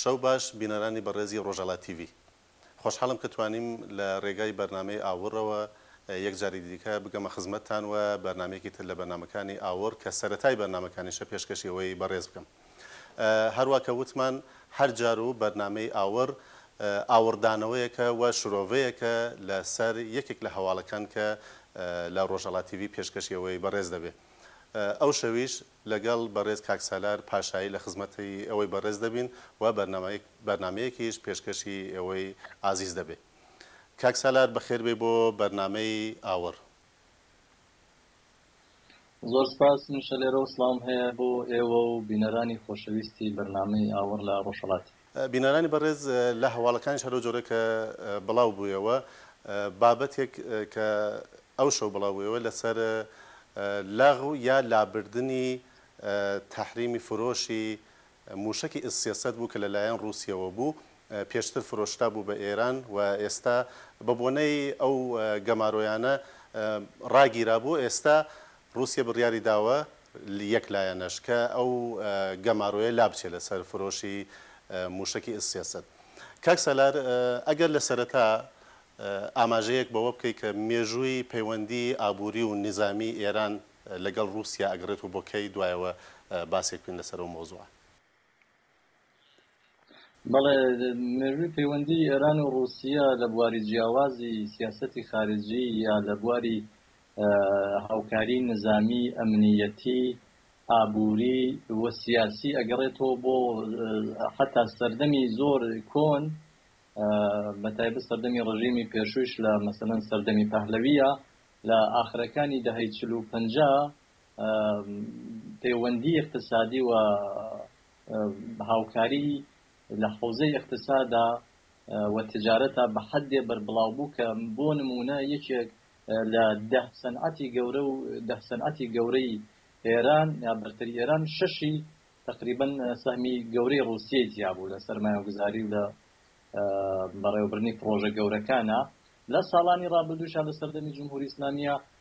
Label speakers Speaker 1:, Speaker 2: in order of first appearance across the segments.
Speaker 1: شەو باش بینەرانی بەڕێزی ڕۆژاڵا تیڤی. خۆشحاڵم کە توانیم لە ڕێگای بەرنامەی ئاوڕەوە یەک جاری دیکە بگەمە خزمەتتان و بەرنامەیەکی تر لە بەرنامەکانی ئاوڕ کە سەرەتای بەرنامەکانیشە پێشکەشی ئەوەی بەڕێز بکەم. هەروا کە وتمان هەر جار و بەرنامەی ئاوڕ ئاوڕدانەوەیەکە و شرۆڤەیەکە لە سەر یەکێک لە هەواڵەکان کە لە ڕۆژاڵا تیڤی پێشکەشی ئەوەی بەڕێز دەبێ ئەو شەویش لەگەڵ بەڕێز کاک سالار پاشایی لە خزمەتی ئێوەی بەڕێز دەبین و بەرنامەیەکبەرنامەیەکیش پێشکەشی ئێوەی ئازیز دەبێ کاک سالار بەخێر بێی بۆ بەرنامەی ئاوڕ.
Speaker 2: زۆر سپاس، منیش لێرەوە سڵاوم هەیە بۆ ئێوە و بینەرانی خۆشەویستی بەرنامەی ئاوڕ لە ڕۆژهەڵاتی. بینەرانی بەڕێز
Speaker 1: لە هەواڵەکانیش هەر ئەوجۆرە کە بڵاو بوویەوە بابەتێک کە ئەو شەو بڵاو بوویەوە لەسەر لەغو یا لابردنی تەحریمی فرۆشی مووشەکی ئس سێ سەد بوو کە لەلایەن ڕووسیەوە بوو پێشتر فرۆشرابوو بە ئێران و ئێستا بە بۆنەی ئەو گەمارۆیانە ڕاگیرابوو ئێستا ڕووسیە بڕیاری داوە یەک لایەنەش کە ئەو گەمارۆیە لابچێ لە سەر فرۆشی مووشەکی ئیس سێ سەد. کاک سالار ئەگەر لە سەرەتا ئاماژەیەک بەوە بکەی کە مێژووی پەیوەندی ئابووری و نیزامی ئێران لە گەڵ ڕووسیا ئەگەڕێتەوە بۆ کەی دوایەوە باسێک بکەین لە سەر ئەو مەوزوعە.
Speaker 2: بەڵێ مێژووی پەیوەندی ئێران و ڕووسیە لە بواری جیاوازی سیاسەتی خارجی یا لە بواری هاوکاری نزامی، ئەمنییەتی، ئابووری و سیاسی ئەگەڕێتەوە بۆ حەتا سەردەمی زۆر کۆن بە تایبەت سەردەمی ڕژیمی پێشووش لە مەسەلەن سەردەمی پەهلەوییە لە ئاخرەکانی دەهەی چل و پەنجا پەیوەندی ئیقتسادی و هاوکاری لە حەوزەی ئیقتسادا و تجارەتا بە حەدێ بەربڵاو بوو کە بۆ نموونە یەکێک لە دە سەنعەتی گەورە و دە سەنعەتی گەورەی ئێران یا بەرتەری ئێران شەشی تەقریبا سەهمی گەورەی ڕووسیەی تیا بوو لە سەرمایەگوزاری و لە بەڕێوەبردنی پڕۆژە گەورەکانا لە ساڵانی ڕابردووشا لە سەردەمی جمهوری ئیسلامییە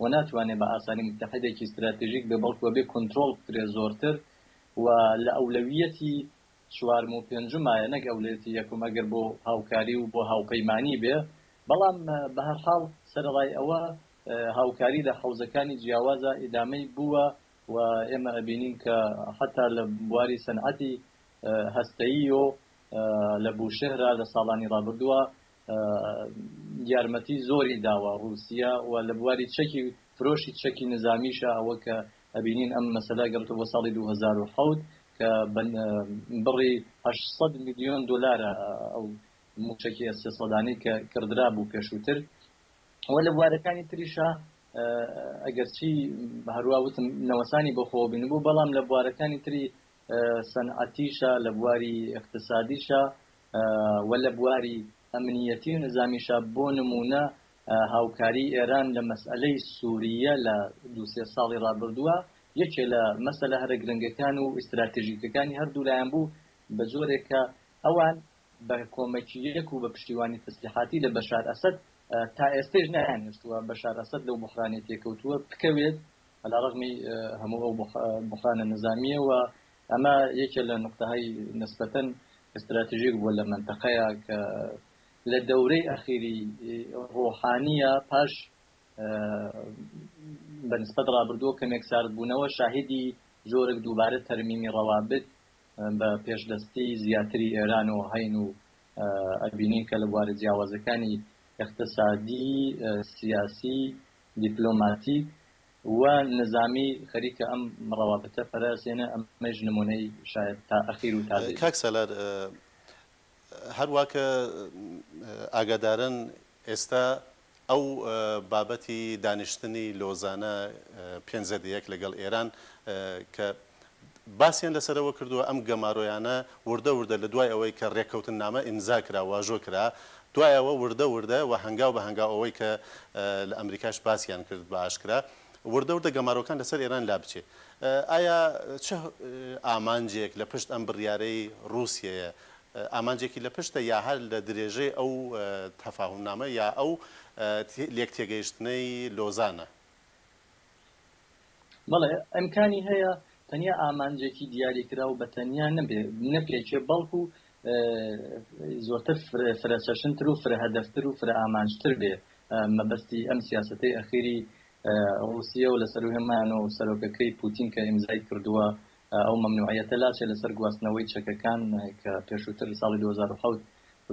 Speaker 2: و ناتوانێت بە ئاسانی موتەحیدێکی ستراتیژیک بێت، بەڵکو ئەبێت کونترۆڵ بکرێت زۆرتر و لە ئەولەویەتی چوارم و پێنجمایە نەک ئەولەیەتی یەکم ئەگەر بۆ هاوکاری و بۆ هاوپەیمانی بێت، بەڵام بە هەر حاڵ سەرەڕای ئەوە هاوکاری لە حەوزەکانی جیاوازا ئیدامەی بووە و ئێمە ئەبینین کە حەتا لە بواری سەنعەتی هەستەییۆ لە بوشهرا لە ساڵانی ڕابردووە یارمەتی زۆری داوە ڕوسیا و لە بواری چەکی فرۆشی چەکی نزامیشە ئەوە کە ئەبینین ئەم مەسەلە گەڕێتەوە بۆ ساڵی دوو هەزار و حەوت کە بە بڕی هەشت سەد ملیۆن دۆلارە ئەو مووشەکی ئێس سێ سەدانەی کە کڕدرابوو پێشووتر و لە بوارەکانی تریشە ئەگەرچی هەروا وتم نەوەسانی بەخۆوە بینبوو بەڵام لە بوارەکانی تری سەنعەتیشە، لە بواری ئیقتسادیشە و لە بواری ئەمنییەتی و نیزامیشە، بۆ نموونە هاوکاریی ئێران لە مەسەلەی سوورییە لە دوو سێ ساڵی ڕابردووە یەکێ لە مەسەلە هەرە گرنگەکان و ئیستراتێژیکەکانی هەر دوو لایان بوو بە جۆرێک کە ئەوان بە کۆمەکییەک و بە پشتیوانی تەسلیحاتی لە بەشار ئەسەد تا ئێستەیش نەیانهێشتووە بەشار ئەسەد لەو بوحرانەی تێکەوتووە بکەوێت عەلا ڕەغمی هەموو ئەو بوحرانە نیزامییە و ئەمە یەکێ لە نوقتەهای نسبەتەن ئێستراتژیک بووە لە مەنتەقەیە کە لە دەورەی ئەخیری ڕۆحانییە پاش بە نسبەت ڕابردووە کەمێک ساردبوونەوە شاهیدی جۆرەك دووبارە تەرمیمی ڕەوابت بە پێشدەستی زیاتری ئێران و هەین و ئەبینین کە لە بوارە جیاوازەکانی اقتصادی سیاسی دیپلۆماتیک و نیزامی خەریکە ئەم ڕەوابتە پەرەئەسێنێ، ئەمەیش نموونەی شایەد تا ئەخیر و تازەی بێ. کاک سالار،
Speaker 1: هەر وا کە ئاگادارن ئێستا ئەو بابەتی دانیشتنی لۆزانە پێنج زێدە یەک لەگەڵ ئێران کە باسیان لەسەرەوە کردووە، ئەم گەمارۆیانە وردە وردە لە دوای ئەوەی کە رێککەوتننامە ئیمزا کرا، واژۆ کرا، دوای ئەوە وردە وردە و هەنگاو بە هەنگاو ئەوەی کە لە ئەمریکاش باسیان کرد بە ئاشکرا، وردە وردە گەمارۆکان لەسەر ئێران لابچێ. ئایا چ ئامانجێک لە پشت ئەم بڕیارەی رووسیەیە؟ ئامانجێکی لە پشتە یا هەر لە درێژەی ئەو تەفاهومنامە یا ئەو لێکتێگەیشتنەی لۆزانە؟
Speaker 2: بەڵێ ئیمکانی هەیە تەنیا ئامانجێکی دیاریکراو بە تەنیا نەپێکێ بەڵکو زۆرتر فرەچەشنتر و فرەهەدەفتر و فرەئامانجتر بێ مەبەستی ئەم سیاسەتەی ئەخیری ڕوسیە و لە سەروو هێمایان و سەرۆکەکەی پوتین کە ئیمزای کردووە ئەو مەمنوعیەتە لاچێ لەسەر گواستنەوەی چەکەکان کە پێشووتر ساڵی 2007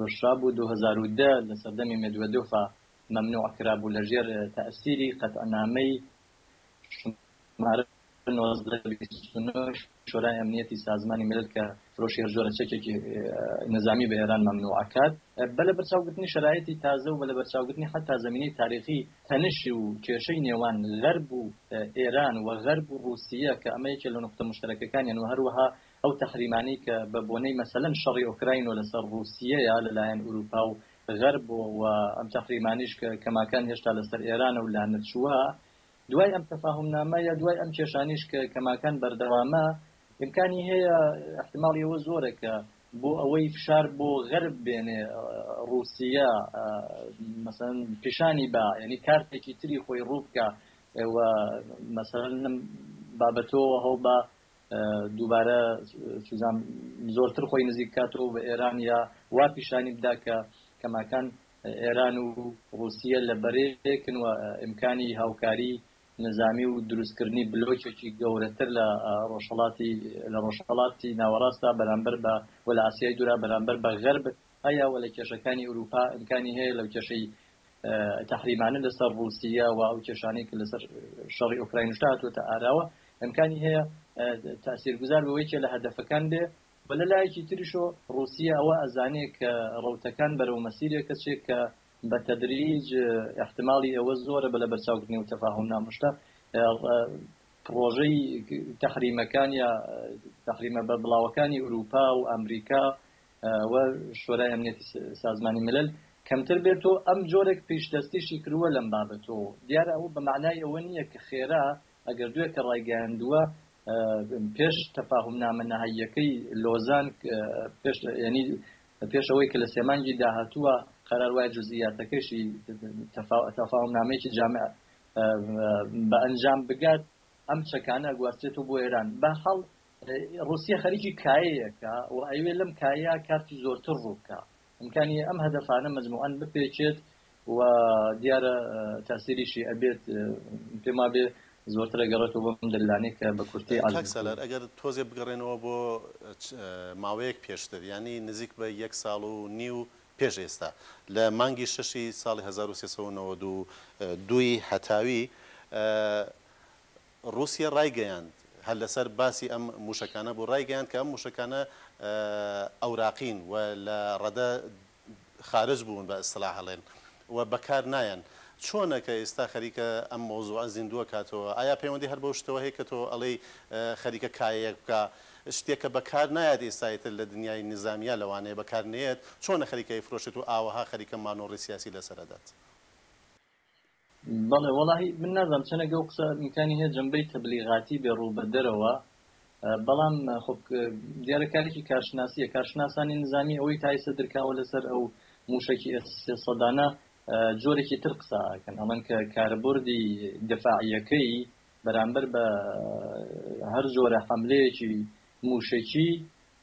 Speaker 2: ڕشابوو 2010 لە سەردەمی مێدوێدۆفا مەمنوع کرابوو لەژێر تەئسیری قەتعنامەی شمارە نۆزدە بیست و نۆ ی شۆرای ئەمنیەتی سازمانی میلل کە فرۆشی هەر جۆرە چەکێکی نیزامی بە ئێران مەمنوع ئەکات بە لەبەرچاوگرتنی شەرایتی تازە و بە لەبەرچاوگرتنی حەتا زەمینەی تاریخی تەنش و کێشەی نێوان غەرب و ئێران و غەرب و ڕووسیە کە ئەمە یەکێ لە نوقتە موشتەرەکەکانیان و هەروەها ئەو تەحریمانەی کە بە بۆنەی مەسەلەن شەڕی ئۆکراین و لەسەر ڕووسیەیە لەلایەن ئورووپا و غەرب و و ئەم تەحریمانەیش کە کەماکان هێشتا لەسەر ئێرانە و لانەچووە، دوای ئەم تەفاهومنامە یە دوای ئەم کێشانەیش کە کەماکان بەردەوامە، ئیمکانی هەیە ئیحتیماڵی ئەوە زۆرە کە بۆ ئەوەی فشار بۆ غەرب بێنێ ڕووسیە مەسەلەن پیشانی با یەنی کارتێکی تری خۆی ڕوو بکا و مەسەلەن لەم بابەتەوە هەوڵ با دووبارە چزان زۆرتر خۆی نزیک کاتەوە بە ئێران یا وا پیشانی بدا کە کەماکان ئێران و ڕوسیە لە بەرەیەکن و ئیمکانی هاوکاری نظامی و دروستکردنی بلۆکێکی گەورەتر لە ڕۆژهڵاتی لە ڕۆژهڵاتی ناوەڕاستا بەرامبەر بە وە لە ئاسیای دورا بەرامبەر بە غەرب هەیە وە لە کێشەکانی ئوروپا ئیمکانی هەیە لەو کێشەی تەحریمانە لەسەر ڕووسییە و ئەو کێشانەی کە لەسەر شەڕی ئۆکراینشدا هاتووەتە ئاراوە، ئیمکانی هەیە تاسیرگوزار بەوە یەکێ لە هەدەفەکان بێ و لە لایەکی تریشەوە ڕووسییە ئەوە ئەزانێ کە ڕەوتەکان بەرەو مەسیرێکە چێ کە بە تەدریج ئیحتماڵی ئەوە زۆرە بە لەبەرچاوگرتنی ئەو تەفاهومنامەشدا پڕۆژەی تەحریمەکان یا تەحریمە بەربڵاوەکانی ئورووپا و ئامریکا و شۆرای ئەمنیەتی سازمانی ملل کەمتر بێت و ئەم جۆرێک پیشدەستیشی کرووە لەم بابەتۆ دیارە ئەوە بە مەعنای ئەوە نییە کە خێرا ئەگەر دوێ کە ڕایگەیاندووە پێش تەفاهم نامە نەهاییەکەی لۆزان پێش یعنی پێش ئەوەی کە لە سێمانگی داهاتووە قەرار وای جزئیاتەکەشی تەفاهم نامەیەکی جامع بە ئەنجام بگات ئەم چەکانە گواستێتەوە بۆ ئێران بە حاڵ ڕوسیە خەریکی کایەیەکە و ئەیوێ لەم کایە کارتی زۆرتر ڕووبکە ئەمکانی ئەم هەدەفانە مجموعەن بپێچێت و دیارە تاسیریشی ئەبێت پێما بێ زۆرترە گەڕێتەوە بەم دللانێ کە بە کورتی ئالار ئەگەر
Speaker 1: تۆزێ بگەڕێنەوە بۆ ماوەیەک پێشتر ینی نزیک بە یەک ساڵ و نی و پێش ئێستا لە مانگی شەشی ساڵی 1992 دووی هەتاوی روسیە رایگەیاند، هەر لەسەر باسی ئەم موشەکانە بوو، رایگەیاند کە ئەم موشەکانە ئەوراقین و لە رەدە خارج بوون بە ئیستلاح ئەڵێن و بەکار نایەن. چۆنە کە ئیستا خەریکە ئەم مەوزوعە زیندوو ئەکاتەوە؟ ئایا پەیوەندی هەر بەو شتەوە هەیە کە تۆ ئەڵێی خەریکە کایەیەک بکا؟ شتێک کە بەکار نایەت ئیستا ئیتر لە دنیای نیزامیا لەوانەیە بەکار نەیەت، چۆنە خەریکە ئەیفرۆشێت و ئاوەها خەریکە مانۆڕی سیاسی لەسەر ئەدات؟
Speaker 2: بەڵێ وەڵاهی من نازانم چەنێک ئەو قسە ئیمکانی هەیە جەنبەی تەبلیغاتی بێ ڕوو بە دەرەوە بەڵام خۆ دیارە کارێکی کارشناسیە کارشناسانی نظامی ئەوەی تایسە درکاوە لەسەر ئەو موشەکی سەدانە جۆرێکی تر قساکەن ئەڵەن کە کاربردی دفاعیەکەی بەرامبەر بە هەر جۆرە حملەیەکی موشەکی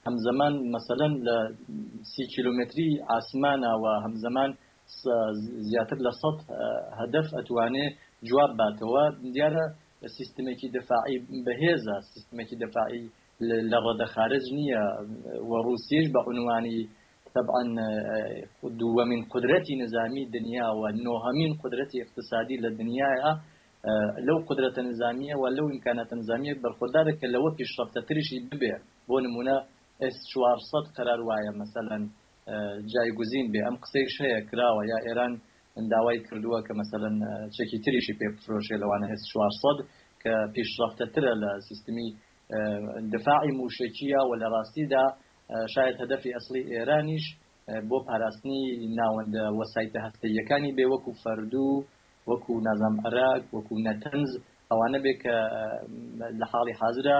Speaker 2: هەمزەمان مەسەلەن لە سی کیلۆمەتری ئاسمانە و هەمزەمان زیاتر لە سەد هەدەف ئەتوانێ جواب باتەوە دیارە سیستمێکی دەفاعی بەهێزە سیستمێکی دەفاعی لە ڕەدە خارج نییە و ڕوسیش بە عنوانی طبعا دووەمین قدرەتی نظامی دنیا و نۆهەمین قدرەتی اقتصادی لە دنیاە لەو قودرەتە نیزامییە و لەو ئیمکاناتە نیزامییە بەرخۆدارە کە لەوە پیشڕەفتەتریشی ببێ، بۆ نموونە ئێس چوار سەد قەرار وایە مەسەلەن جایگوزین بێ، ئەم قسەیش هەیە کراوە یا ئێران داوای کردووە کە مەسەلەن چەکی تریشی پێ بفرۆشێ لەوانە ئێس چوار سەد کە پیشڕەفتەترە لە سیستمی دفاعی مووشەکییە و لە ڕاستیدا شایەد هەدەفی ئەسڵی ئێرانیش بۆ پاراستنی ناوەندە وەسایتە هەستەییەکانی بێ وەکوو فەردوو وەکو نازناوم ئەراک، وەکو نەتەنز، ئەوانە بێ کە لە حاڵی حازرا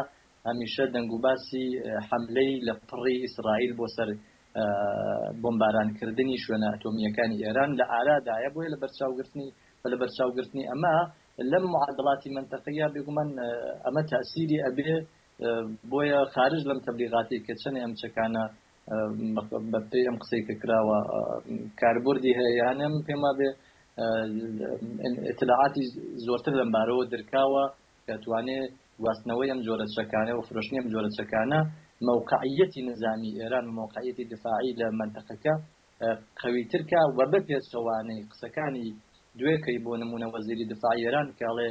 Speaker 2: هەمیشە دەنگ و باسی حەملەی لەپڕی ئیسرائیل بۆ سەر بۆمباران کردنی شوێنە ئەتۆمییەکانی ئێران لە ئارا دایە، بۆیە لە بەرچاو گرتنی و لە بەرچاو گرتنی ئەمە لەم معادڵاتی مەنتەقییە بێ گومان ئەمە تەئسیری ئەبێ، بۆیە خارج لەم تەبلیغاتەی کە چەنێ ئەم چەکانە بە پێی ئەم قسەی کە کراوە کاربردی هەیە یان نە، من پێم وابێ ئیتلاعاتی زۆرتر لەم بارەوە درکاوە کە ئەتوانێ گواستنەوەی ئەم جۆرە چەکانە و فرۆشتنی ئەم جۆرە چەکانە مەوقعییەتی نیزامیی ئێران و مەوقعییەتی دیفاعی لە مەنتەقەکە قەویتر کا و بە پێچەوانەی قسەکانی دوێکەی بۆ نموونە وەزیری دیفاعی ئێران کە ئەڵێ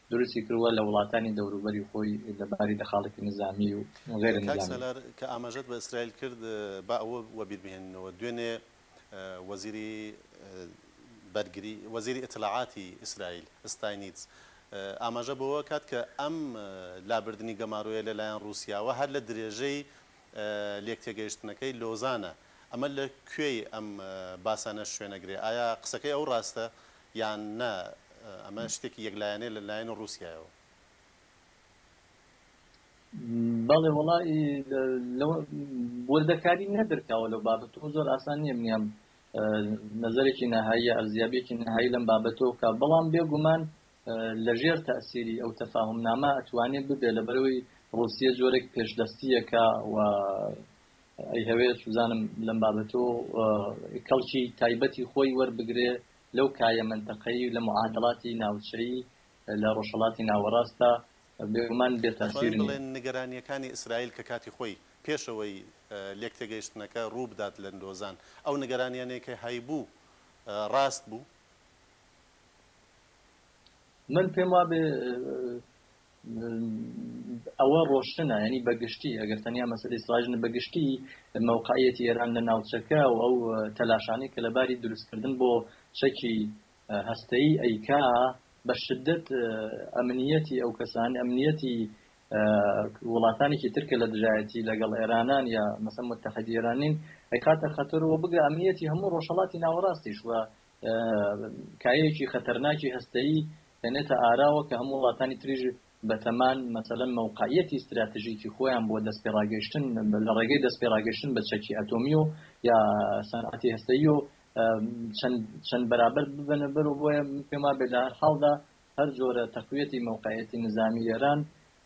Speaker 2: دروستی کردوە لە وڵاتانی دەوروبەری خۆی لە باری دەخاڵێکی نزامی و غەیرە کاک نزامی. سالار کە ئاماژەت بە
Speaker 1: ئیسرائیل کرد با ئەوە وەبیر بهێنینەوە دوێنێ وەزیری بەرگری وەزیری ئیتلاعاتی ئیسرائیل ستاینیتز ئاماژە بەوە کات کە ئەم لابردنی گەمارۆیە لە لایەن روسیاوە هەر لە درێژەی لێکتێگەیشتنەکەی لۆزانە ئەمە لە کوێی ئەم باسانە شوێنەگرێ ئایا قسەکەی ئەو راستە یان نا ئەمە شتێکی یەک لایەنەیە لە لایەنی ڕووسیایەوە؟
Speaker 2: بەڵێ وەڵا ی لە وردەکاری نەدرکاوە لەو بابەت و زۆر ئاسان نییە منیان نەزەرێکی نەهایی ئەرزیابێکی نەهایی لەم بابەتەوە بکە بەڵام بێگومان لە ژێر تەسیری ئەو تەفاهم نامە ئەتوانێت ببێ لە بەرەوەی ڕوسیە جۆرێک پێشدەستیەکە و ئەیهەوێ سوزانم لەم بابەتۆ کەڵکی تایبەتی خۆی وەربگرێ لەو کایە مەنتەقەیی لە معادڵاتی ناوچەیی لە ڕۆژهەڵاتی ناوەڕاستدا بێگومان بێ تاسیر نیە. بڵێن نگەرانیەکانی
Speaker 1: ئیسرائیل کە کاتی خۆی پێشەوەی لێکتێگەیشتنەکە ڕووبدات لە لۆزان ئەو نگەرانیانەی کە هەیبوو ڕاست بوو؟
Speaker 2: من پێم وابێ ئەوە ڕۆشتنە یانی بەگشتی ئەگەر تەنیا مەسەلەی سڵاژنە بەگشتی مەوقعەتی ئێران لە ناوچەکە و ئەو تەلاشانی کە لەباری دروستکردن بۆ چەکی هەستەی ئەیکا بە شدت ئەمنیەتی ئەو کەسانی ئەمنیەتی وڵاتانێکی ترکە لە دژایەتی لەگەڵ ئێرانان یا مەسە متحدیێرانین ئەیخاتە خەتەرەوە بگە ئەمنیەتی هەموو ڕۆژهڵاتی ناوەڕاستیش وە کایەیەکی خەتەرناکی هەستەیی دەنێتە ئاراوە کە هەموو وڵاتانی تریش بەتەمان مەسەلەن مەوقەعیەتی ستراتژیکی خۆیان بۆ دەستپێڕاگەیشتن لە ڕێگەی دەستپێڕاگەیشتن بە چەکی ئەتۆمی و یا سەنعاتی هەستەیی و چەند بەرابەر ببەنە بەر و بۆیە پێم وابێت لە هەر حاڵدا هەر جۆرە تەقویەتی مەوقەعیەتی نزامی ئێران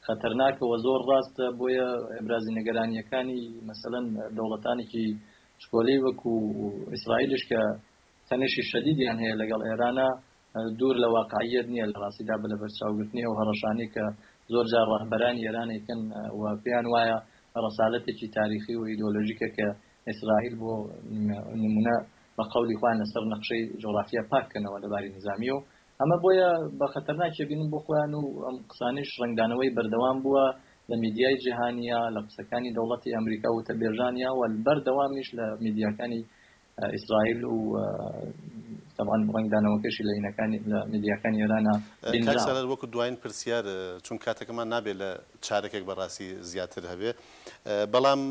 Speaker 2: خەتەرناکە و زۆر ڕاستە بۆیە ئەبرازی نیگەرانییەکانی مەسەلەن دەوڵەتانێکی شکۆلەی وەکو ئیسرائیلش کە تەنشی شەدیدیان هەیە لەگەڵ ئێرانا دوور لە واقعییەت نییە لە ڕاستیدا بە لەبەرچاوگرتنی ئەو هەڕەشانەی کە زۆر جار ڕەهبەرانی ئێران ئەیکەن و پێیان وایە ڕەسالەتێکی تاریخی و ئیدۆلۆژیکە کە ئیسرائیل بۆ نموونە بە قەولی خۆیان لەسەر نەخشەی جۆغرافیا پاک کەنەوە لە باری نیزامییە و ئەمە بۆیە بە خەتەرناک ئەبینن بۆ خۆیان و ئەم قسانەیش ڕەنگدانەوەی بەردەوام بووە لە میدیای جیهانییە لە قسەکانی دەوڵەتی ئەمریکا وتەبێژانییە و بەردەوامیش لە میدیاکانی ئیسرائیل و تەبعەن ڕەنگدانەوەکەشی لە لینەکانی لە میدیاکانی ئێرانا بینراوە. کاک سالار وەکو
Speaker 1: دواین پرسیار چون کاتەکەمان نابێ لە چارەکێک بەڕاستی زیاتر هەبێ بەڵام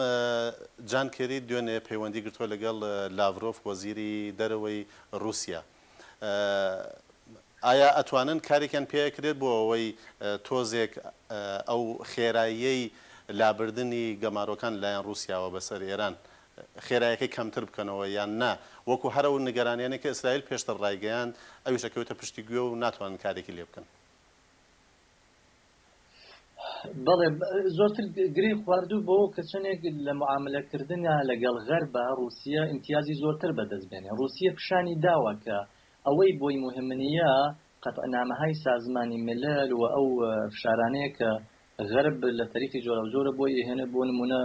Speaker 1: جان کێری دوێنێ پەیوەندی گرتوە لەگەڵ لاڤرۆف وەزیری دەرەوەی ڕوسیا ئایا ئەتوانن کارێکیان پێ ئەکرێت بۆ ئەوەی تۆزێک ئەو خێراییەی لابردنی گەمارۆکان لەلایەن ڕوسیاوە بەسەر ئێران خێرایەکەی کەمتر بکەنەوە یان نا، وەکو هەر ئەو نیگەرانیانەی کە ئیسرائیل پێشتر ڕایگەیاند، ئەویش ئەکەوێتە پشتی گوێ و ناتوانن کارێکی لێ بکەن.
Speaker 2: بەڵێ، زۆرتر گرێی خواردووە بەوە کە چەندێک لە معامەلەکردنا لەگەڵ غەربا، ڕووسیە ئیمتیازی زۆرتر بەدەست بێنێ. ڕووسیە پیشانی داوە کە ئەوەی بۆی موهیمنیە قەتعنامەهای سازمانی ملل و ئەو فشارانەیە کە غەرب لە تەریقی جۆراوجۆرە بۆی ئەهێنێ، بۆ نموونە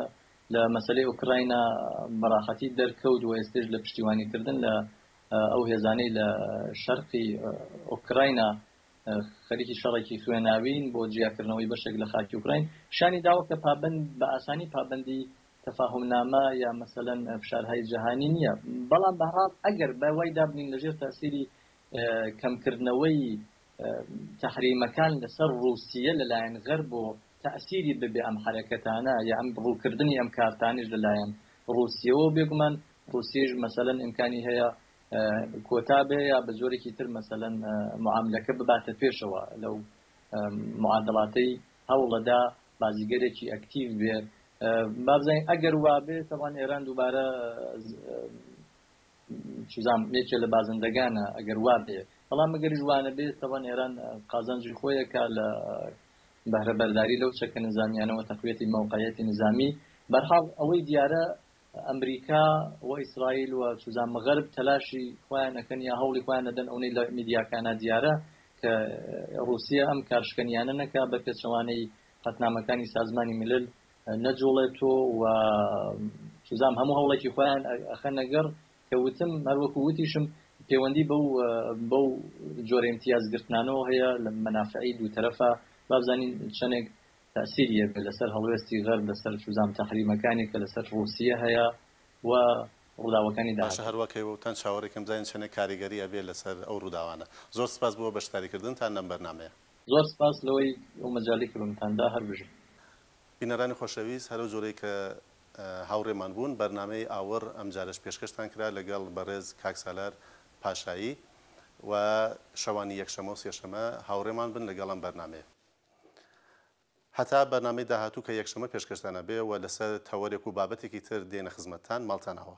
Speaker 2: لە مەسەلەی ئۆکراینا بە ڕاحەتی دەرکەوت و ئێستەیش لە پشتیوانیکردن لە ئەو هێزانەی لە شەرقی ئۆکراینا خەریکی شەڕێکی خوێناوین بۆ جیاکردنەوەی بەشێک لە خاکی ئۆکراین پیشانی داوە کە پابەند بە ئاسانی پابەندی تەفاهمنامە یا مەسەلەن فشارهای جیهانی نییە بەڵام بەهەڵ ئەگەر بە وای دابنین لەژێر تاسیری کەمکردنەوەی تەحریمەکان لەسەر ڕووسیە لەلایەن غەرب و تەئسیری ببێ ئەم حەرەکەتانە یا ئەم ڕووکردنی ئەم کارتانەیش لەلایەن ڕووسیەوە و بێگومان ڕووسیەیش مەسەلەن ئیمکانی هەیە کۆتا بێ یا بە جۆرێکی تر مەسەلەن معاملەکە بباتە پێشەوە لەو معادڵاتەی هەوڵەدا بازیگەرێکی ئەکتیڤ بێ بابزانین ئەگەر وابێ تەوان ئێران دووبارە چزام یەکێ لە بازندەگانە ئەگەر وابێ بەڵام گەریش وانە بێت تەوان ئێران قازانجی خۆیەکە لە بەهرە بەرداری لەو چەکە نزانیانەوە تەقویەتی مەوقعەتی نزامی بەرحاڵ ئەوەی دیارە ئەمریکا و ئیسرائیل و چزان مەغرب تەلاشی خۆیان ئەەکەن یا هەوڵی خۆیان نەدەن ئەونەی لە میدیاکانە دیارە کە ڕوسیە ئەم کارشکەنیانە نەکا بە پێچەوانەی قەتنامەکانی سازمانی ملل نەجوڵێت و و چزام هەموو هەوڵێکی خۆیان ئەخەنەگەڕ کە وتم هەروەکو وتیشم پەیوەندی بەو بەو جۆرە ئیمتیاز گرتنانەوە هەیە لە مەنافعی دوو تەرەفە بابزانین چەنێک تەسیری هەبێت لەسەر هەڵوێستی غەرب لەسەر چزام تەحریمەکانی کە لەسەر ڕووسیە هەیە و ڕووداوەکانی باشە داهاتوو. هەروەک
Speaker 1: هەیوەوتان چاوەڕێکەم بزانین چەنێک کاریگەری ئەبێت لەسەر ئەو ڕووداوانە. زۆر سپاس بۆ بەشداریکردنتان لەم بەرنامەیە. زۆر سپاس
Speaker 2: لەوەی ئەو مەجالی کردنتان دا هەر بژین. بینەرانی
Speaker 1: خۆشەویست هەرەو جۆرەی کە هاوڕێمان بوون بەرنامەی ئاوڕ ئەمجارەش پێشکەشتان کرا لەگەڵ بەڕێز کاک سالار پاشایی و شەوانی یەکشەمە و سێشەمە هاوڕێمان بن لەگەڵ ئەم بەرنامەیە هەتا بەرنامەی داهاتوو کە یەکشەمە پێشکەشتان ئەبێ و لەسەر تەوەرێک و بابەتێکی تر دێنە خزمەتتان ماڵتان ئاوا.